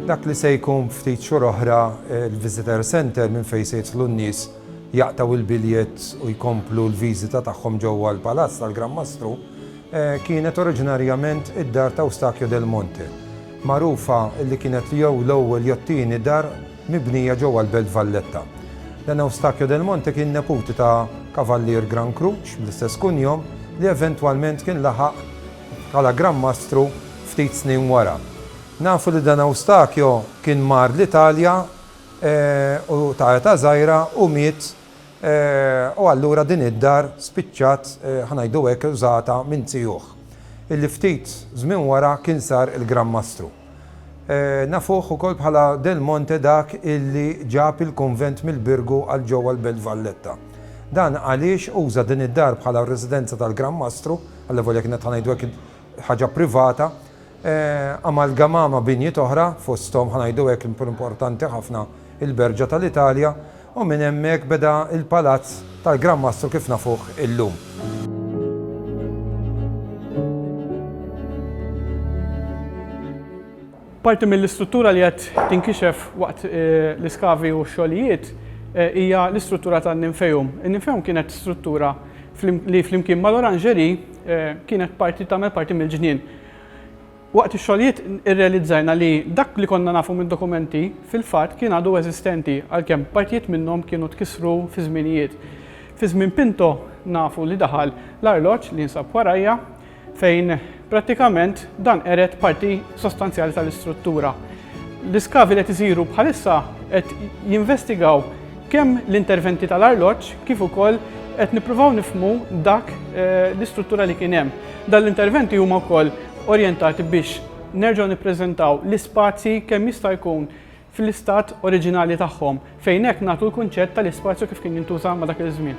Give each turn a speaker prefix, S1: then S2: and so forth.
S1: Dak li se jkun ftit xhur oħra l-Visitor Centre minn fejn se jidħlu n-nies jaqtgħu il-biljett u jkomplu l-viżita tagħhom ġewwa l-Palazz tal-Gran Mastru, kienet oriġinarjament id-dar t'Eustachio del Monte. magħrufa li kienet jew l-ewwel jew t-tieni dar mibnija ġewwa l-Belt Valletta. Dan Eustachio del Monte kien neputi ta' Kavallier Gran Kruċ bl-istess kunjom li eventwalment kien laħaq bħala Gran Mastru ftit snin wara. Nafu li dan Eustachio kien mar l-Italja u ta' età żgħira u miet u allura din id-dar spiċċat, ħa ngħidu hekk, użata minn zijuh, illi ftit żmien wara kien sar il-Gran Mastru. Nafuh ukoll bħala Del Monte dak illi ġab il-kunvent mill-Birgu għal ġewwa l-Belt Valletta. Dan għaliex uża din id-dar bħala r-residenza tal-Gran Mastru, allevolja kienet ħa ngħidu hekk ħaġa privata, amalgamà ma' binjiet oħra, fosthom, ħa ngħidu hekk, l-iktar importanti ħafna, il-Berġa tal-Italja, u minn hemmhekk beda l-Palazz tal-Gran Mastru kif nafuh illum.
S2: Parti mill-istruttura li qed tinkixef waqt l-iskavi u x-xogħlijiet hija l-istruttura tan-Ninfeum. In-Ninfeum kienet struttura li flimkien mal-Orangerie kienet parti tagħmel parti mill-ġnien. Waqt ix-xogħlijiet irrealizzajna li dak li konna nafu mid-dokumenti fil-fatt kien għadu eżistenti għalkemm partijiet minnhom kienu tkissru fi żminijiet. Fi żmien Pinto nafu li daħal l-arloġġ li jinsab warajja fejn prattikament dan qered parti sostanzjali tal-istruttura. L-iskavi li qed isiru bħalissa qed jinvestigaw Kemm l-interventi tal-arloġġ kif ukoll qed nippruvaw nifhmu dak l-istruttura li kien hemm. Dan l-interventi huma wkoll orjentati biex nerġgħu nippreżentaw l-ispazji kemm jista' jkun fl-istat oriġinali tagħhom, fejn hekk nagħtu l-kunċett tal-ispazju kif kien jintuża ma' dak iż-żmien.